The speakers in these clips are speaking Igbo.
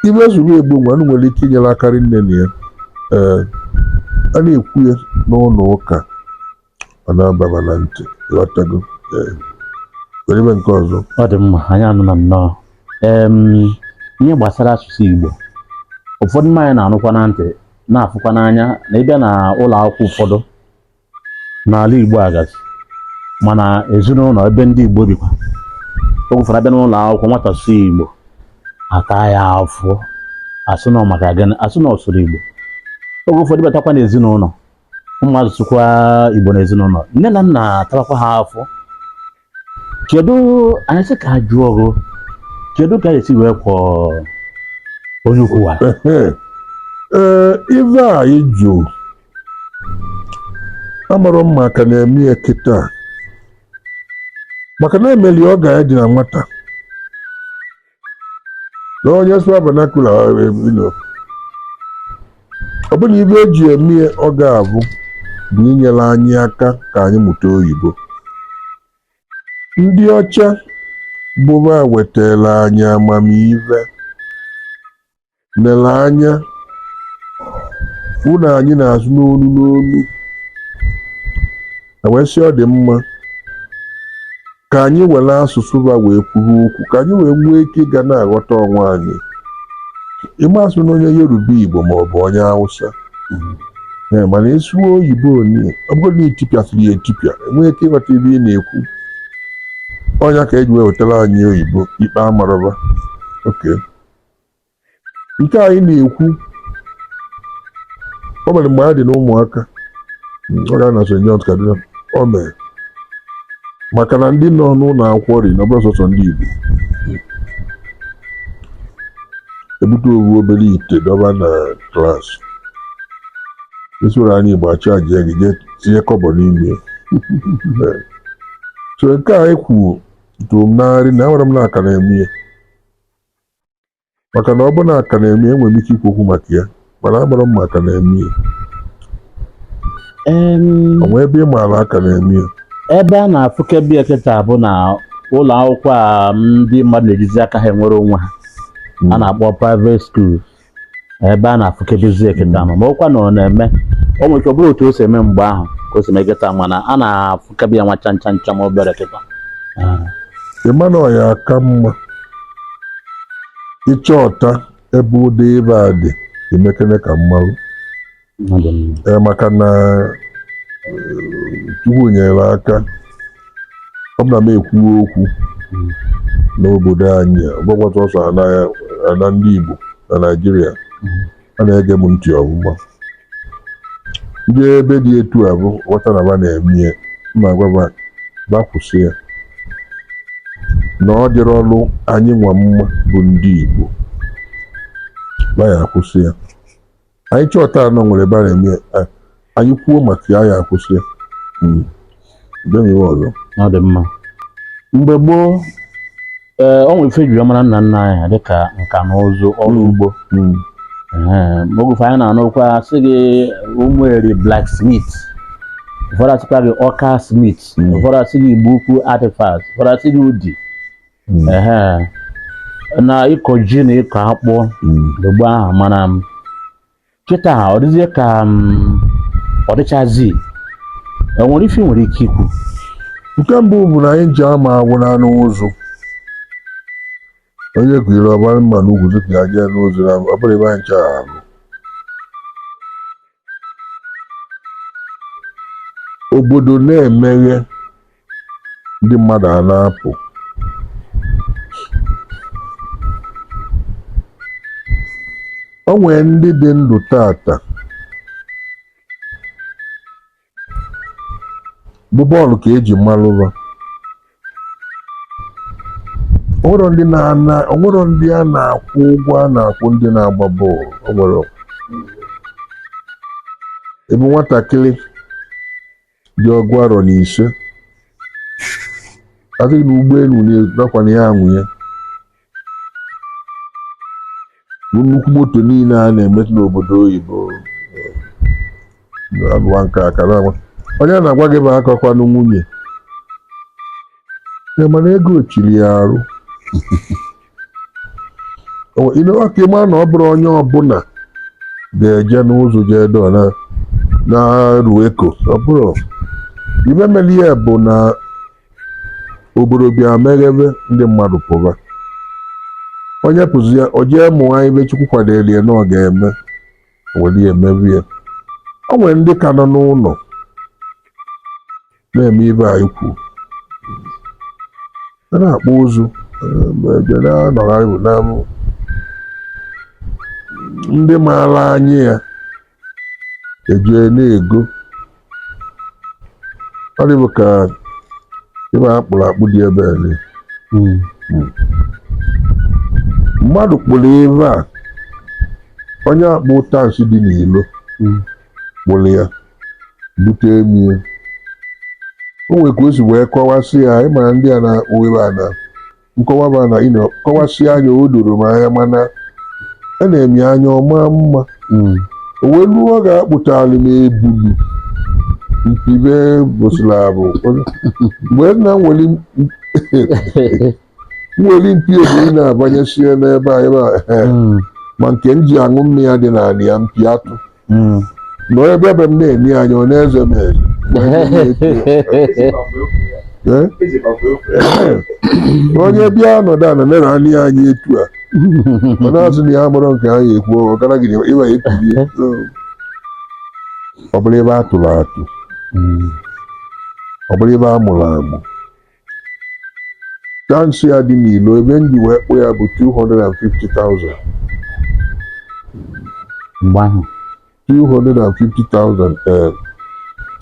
ibe zuru Igbo nwa unu nwere ike inyere aka rinne na ya ee a na-ekwu ya n'ụlọ ụka ọ na-aba ba na ntị ịghọtago ee werebe nke ọzọ ọ dị mma anyị anụla nnọọ em ihe gbasara asụsụ Igbo ụfọdụ ma anyị na-anụkwa na ntị na-afụkwa n'anya na ị bịa na ụlọ akwụkwọ ụfọdụ n'ala Igbo agazie ma na ezinụlọ ebe ndị Igbo bikwa oge ụfọdụ abịa n'ụlọ akwụkwọ nwata sụọ Igbo ata ya afụfụ asị na ọ maka gịnị asị na ọ sụrụ Igbo oge ụfọdụ batakwa n'ezinụlọ ụmụazụ sụkwa igbo n'ezinụlọ nne na nna atawakwa ha afụfụ kedu anyị sị ka a jụọ gị kedu ka esi wee kwọ onye ukwu a ee ive a ị jụ amarọ m ma a ka na-eme ya kịta maka na emeli oge anyị dị na nwata na onye sụọ vernacular ọ bụ na ibe eji eme ya ọ ga-abụ bụ inyere anyị aka ka anyị mụta oyibo ndị ọcha bụ ba wetara anyị amamihe lere anya fụ na anyị na-asụ n'olu n'olu wee sị ọ dị mma ka anyị were asụsụ ba wee kwuru okwu ka anyị wee nwee ike ịga na-aghọta onwe anyị ị ma asụrụ onye yoruba igbo ma ọ bụ onye hausa ee mana ị sụwa oyibo onye ọ bụrụ na i tipịasịrị ya etipịa enwee ike ịghọta ibe ị na-ekwu ọ nya ka eji wee wetara anyị oyibo ikpe amarọ ba okay nke anyị na-ekwu o mere mgbe anyị dị n'ụmụaka ọ ga na St. John's Kaduna o mere maka na ndị nọ n'ụlọ akwụkwọ ri na ọ bụrọ sọsọ ndị Igbo ebute ofu obere ite dọbe na klaasị ị sụọrọ anyị Igbo achajịa gị jee tinye kọbọ n'ime so nke a i kwuru tụrụ m n'arị na ekwerọ m na a ka na-eme ya maka na ọ bụ na a ka na-eme ya enwere m ike ikwu okwu maka ya mana amarọ m ma a ka na-eme ya Em, o nwe ebe ị maara a ka na-eme ya ebe a na-afụkebe ya kịta bụ na ụlọ akwụkwọ a ndị mmadụ na-ejizi aka ha enwere onwe ha a na-akpọ private schools ebe a na-afụkebezi kịta ma ọkwa na ọ na-eme o nwere ike ọ bụrụ otu o si eme mgbe ahụ ka o si eme kịta mana a na-afụkebe ya nwa cham cham cham obere kịta ịma na ọ ya aka mma ịchọta ebe ụdị ibe a dị i mekene ka m marụ maka na Chukwu nyere aka ọ bụ na m ekwuwe okwu n'obodo anyị ọgbakwata ọsọ ana ndị Igbo na Naịjirịa a na-ege m ntị ọ bụ m ma ndị ebe dị etu a bụ ghọta na ba na-eme ya ma gwa ba ba kwụsị ya na ọ dịrọrọ anyị nwa mma bụ ndị Igbo ba ya akwụsị ya anyị chọta na o nwere ebe a na-eme anyị kwuo maka ya ya akwụsị hmm. ọzọ ọ dị mma mgbe gboo ee o nwere ife ejiri mara nna nna anyị ha dịka nka na ụzụ ọrụ hmm. ugbo hmm. oge ụfọdụ anyị na-anụ okwu a sị gị Ụmụeri blacksmith ụfọdụ asịkwa gị Ọka smith ụfọdụ asị gị Igbo Ukwu artifact ụfọdụ asị gị Udi Mm. ehe na ịkọ ji na ịkọ akpụ Mm. mgbe ahụ mana m kịta ọ dịzie ka ọ dịchazi o nwere ife ị nwere ike ikwu nke mbụ bụ na anyị ji ama agwụ n'anụ ụzụ onye kụnyere ọbara mma na ugwu tupu ya jee n'ụzụ na ọ bụrụ ebe anyị chọrọ ahụ obodo na-emeghe ndị mmadụ a na-apụ o nwere ndị dị ndụ taata bụ bọọlụ ka eji malụ ba o nwerọ ndị na-ana o nwerọ ndị a na-akwụ ụgwọ a na-akwụ ndị na-agba bọọlụ o nwere ebe nwatakịrị dị ọgụ arọ na ise a sị na ụgbọelu nakwa na ya anwụ ya bụ nnukwu moto niile a na-emetụ n'obodo oyibo alụwa nke a kara agwa onye a na-agwa gị bụ akọkwanụ nwunye ya mana ego chiri ya arụ ị newa ka ịma na ọ bụrụ onye ọbụla ga-eje n'ụzụ jee dọ na-arụ eko ọ bụrụ ibe mere ya bụ na obodo bịa meghebe ndị mmadụ pụba onye pụzia o jee mụọ ibe Chukwu kwadoro ya na ọ ga-eme o were mebe ya o nwere ndị ka nọ n'ụlọ na-eme ive anyị kwu a na-akpụ ụzụ na-anọgharị na ndị maara anya ya eje na-ego ọ dịbụ ka ive a kpụrụ akpụ dị ebe ele Mm. mmadụ kpụrụ ive a onye akpụ Tansi dị n'ilo Mm. kpụrụ ya bute mie o nwere ka o si wee kọwasị ya ị mara ndị a na-akpụ ive a na nkọwa bụ na ịnọ kọwasị anya o doro m anya mana e nee m ya anya ọ ma mma Mm. o wee ruo ọ ga-akpụtali m ebuli mpi be bụsịla abụ mgbe nna m nwere nwere mpi evi na-abanyesie n'ebe a ehe Mm. ma nke m ji aṅụ mmiri ya dị n'ala ya mpi atụ Mm. nọ ebe ebe m na-ene ya anya ọ na-eze m eze Ma ndị na-etie, eh? onye bịa nọdụ ana nere ya anya etu a ọ na-asị na ya amarọ nke anyị ekwu ọ gara gị ịwa ekwulie ọ bụrụ ive a tụrụ atụ Mm. ọ bụrụ ive a mụrụ amụ Tansi a dị n'ilo ive m ji wee kpụ ya bụ 250,000 mgbe ahụ 250,000 ee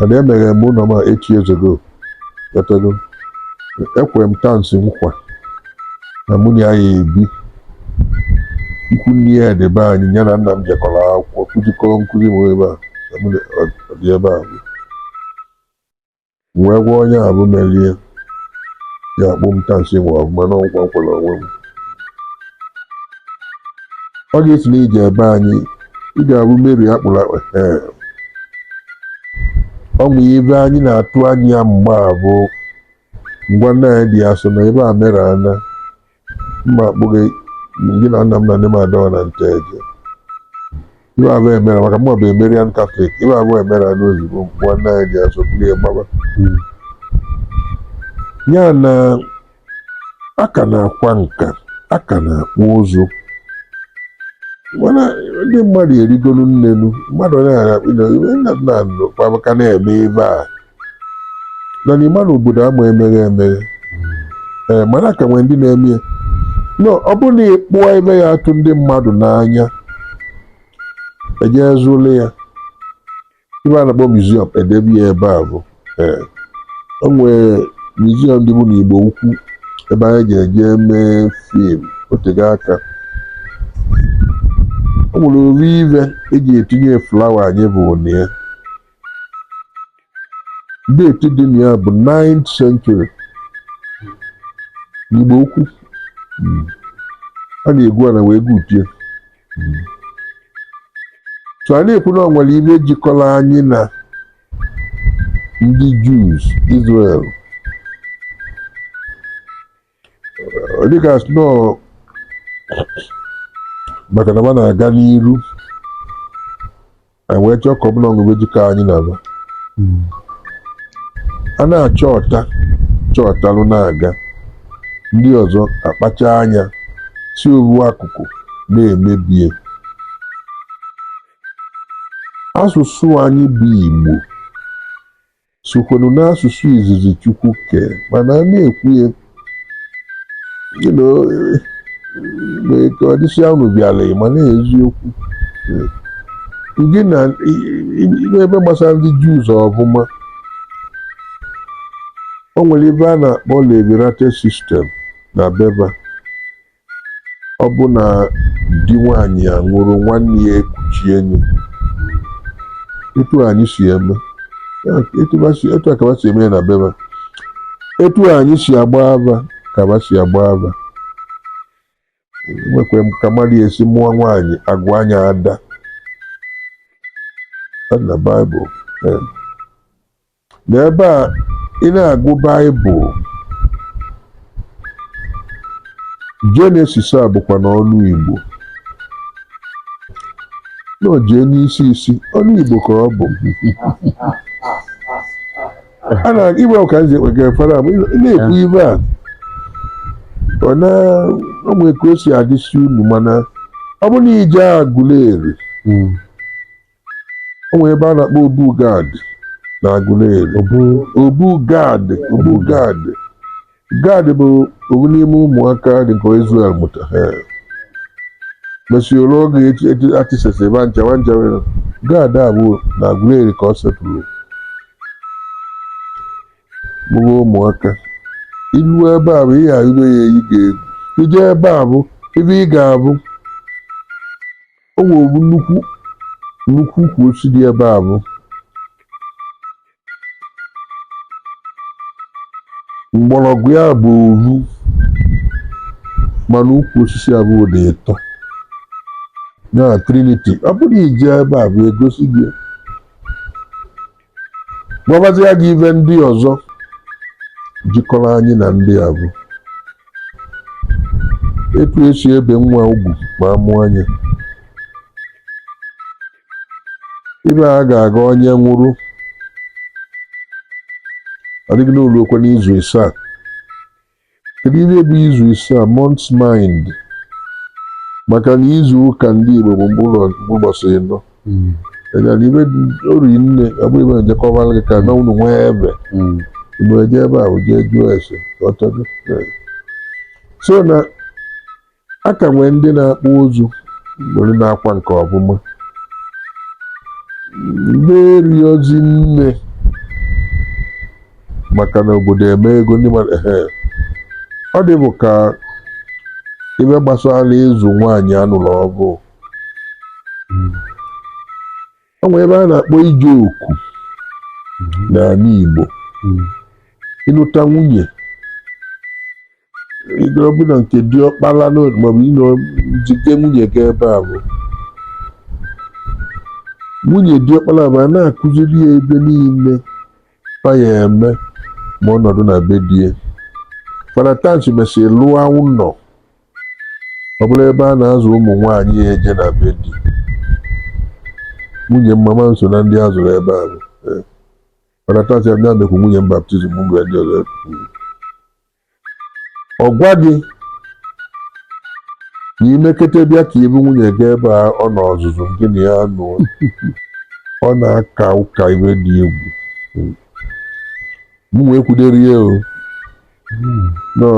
and emeghere m ụlọ m a 8 years ago etago ekwere m Tansi nkwa na mụ na ya ya-ebi ikwu nne ya dị be anyị ya na nna m jekọrọ akwụkwọ kụzikọrọ nkụzi m ebe a na mụ na- ọ- ọ dị ebe a M wee gwa onye a bụ merie ya akpụ m Tansi nwa ọfụma na ọ wụ nkwa m kwere onwe m ọ ga-esi na i jee be anyị ị ga-ahụ Mary akpụrụ akpụ ee ọ bụ ive anyị na-atụ anya mgbe a bụ ngwa nne anyị dị asọ na ebe a mere ana mma akpụghị gị na nna m na nne m adọọ na Nteje ive a bụ Mary maka mụwa bụ a Marian Catholic ive a bụ Marian ozugbo ngwa nne anyị dị asọ kpụlị ya gbaba ya na a ka na-akwa nka a ka na-akpụ ụzụ mana ndị mmadụ arịgolu n'enu mmadụ na-akpụ na nna nna nọ kpaba ka na-eme ive a na ị ma na obodo ama emeghe emeghe ee mana ka nwee ndị na-eme ya no ọ bụrụ na ị kpụọ ive ya-atụ ndị mmadụ n'anya ejee zụlụ ya ive a na-akpọ museum edebe ya ebe ahụ ee o nwere museum dịbu n'Igbo Ukwu ebe anyị ji eje mee film otego aka o nwere ụdị ive eji etinye flower anyị bụ na ya deeti dị na ya bụ 9th century n'Igbo Ukwu mm. a na-egwu ana wee gwutie mm. so a na-ekwu na ọ nwere ive jikọrọ anyị na ndị Jews Israel dịka sno maka na ba na-aga n'iru anyị wee chọọ ka ọ bụ na o nwe ive jikọ anyị na ba a na-achọta chọtalụ na-aga ndị ọzọ akpacha anya si ovu akụkụ na-emebie asụsụ anyị bụ Igbo sịkwanụ n'asụsụ izizi Chukwu kee mana a na-ekwu ya ka ọ dịsịa unu bịara ma na eziokwu gị na ive gbasara ndị Jews ọ bụ na o nwere ive a na-akpọ levirate sistem na be ba Ọ bụ na di nwaanyị a nwụrụ nwanne ya ekuchie nwunye etu anyị si eme etu a ka ba si eme ya na be ba etu anyị si agba ava ka ba si agba ava nwekwa ka mmadụ esi mụọ nwaanyị agụọ ya Ada na Baịbụl N'ebe a, ị na-agụ Baịbụl, Jenesis a bụkwa n'ọnụ Igbo. Na o jee n'isi isi, ọnụ Igbo ka ọ bụ. A na igbe ka nze ekpega efere a, ma ị na- ị na-ekwu ive a. Ọ na ọ nwere ka o si adịsi unu mana ọ bụ na i jee Aguleri, Mm. o nwere ebe a na-akpọ obu Gad na Aguleri obu obu gad obu gad gad bụ ovu n'ime ụmụaka Jekọb Izrel mụta ha mesịrị oge atisesi ba ncha nwancha nwere Gad avụ na Aguleri ka ọ setụrụ mụrụ ụmụaka i lue ebe avụ ihe arịgo ya eyi gị egwu i jee ebe avụ ive ị ga-avụ o nwere nnukwu nnukwu ukwu osisi dị ebe avụ mgbọrọgwụ ya bụ ovu mana ukwu osisi avụ dị ịtọ ya triniti ọ bụrụ i jee ebe avụ egosi gị gwabazia gị ive ndị ọzọ jikọrọ anyị na ndị a bụ etu esi ebe nwa ugwu ma a mụa nya ive a ga-aga onye nwụrụ adịghị n'ụlọ okwe n'izu isaa Kedu ihe bụ izu isaa month's mind maka na izu ụka ndị Igbo bụ mkpụrụ ụbọchị ịnọ hmm. egara ive ori nne abụ ive ejekọbara gị ka na unu nwee ebe hmm. unu eje ebe a jee jụọ ese ọtọdụ so na A ka nwee ndị na-akpụ ụzụ were na-akwa nka ọ bụ ma eriozi nne maka na obodo emepego ndị mmadụ ehe. ọ dị bụ ka ive gbasara ịzụ nwaanyị a nụrụ ọvụụ o nwere ive a na-akpọ ije oku n'ala Igbo ịnụta nwunye Ego ọbụla nke diọkpara na maọbụ ị nọ jide nwunye ga ebe ahụ nwunye diọkpara bụ a na-akụziri ya ive niile fa ya eme ma ọ nọdụ na be di ya Fada Tansi mesịrị lụọ ụnọ ọ bụrụ ebe a na-azụ ụmụ nwaanyị ya eje na be di nwunye mama m so na ndị a zụrụ ebe ahụ Fada Tansi mekwu nwunye m baptizim mgbe ndị ọzọ kwuru ọ gwa gị na i mekete bịa ka i bu nwunye gị ebe a ọ nọ ọzụzụ gị na ya anụọ ọ na-aka ụka ive dị egwu m wee kwudere ya o na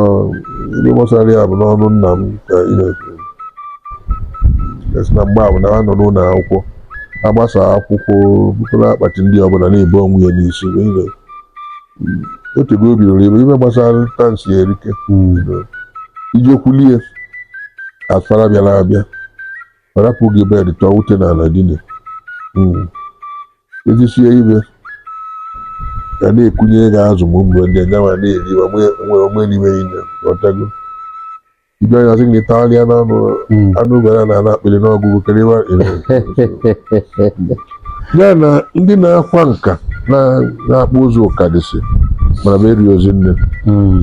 ihe gbasara ya bụ n'ọnụ nna m ka ihe esi na mgbe ahụ na ha nọ n'ụlọ akwụkwọ a gbasaa akwụkwọ bukọrọ akpati ndị ọbụla na-ebu onwe ya n'isi wee o tego o bidoro ebe ive gbasara Tansi erika bidoro ije kwulie Fada bịara abịa ọ rapụrụ gị bed tọọ ute n'ala dine e sisie ive ga na-ekunye gị azụ mgbe mgbe ndị nyanwa na-eri onwe n'ime niile o tego ibe ya sị gị tagharịa n'anụ hmm. anụ gwara na ana akpịrị n'ọgụgụ kerewa ya na ndị na-akwa nka na-akpụ ụzụ ọ ka dịsị mana fa eriozi nne hmm.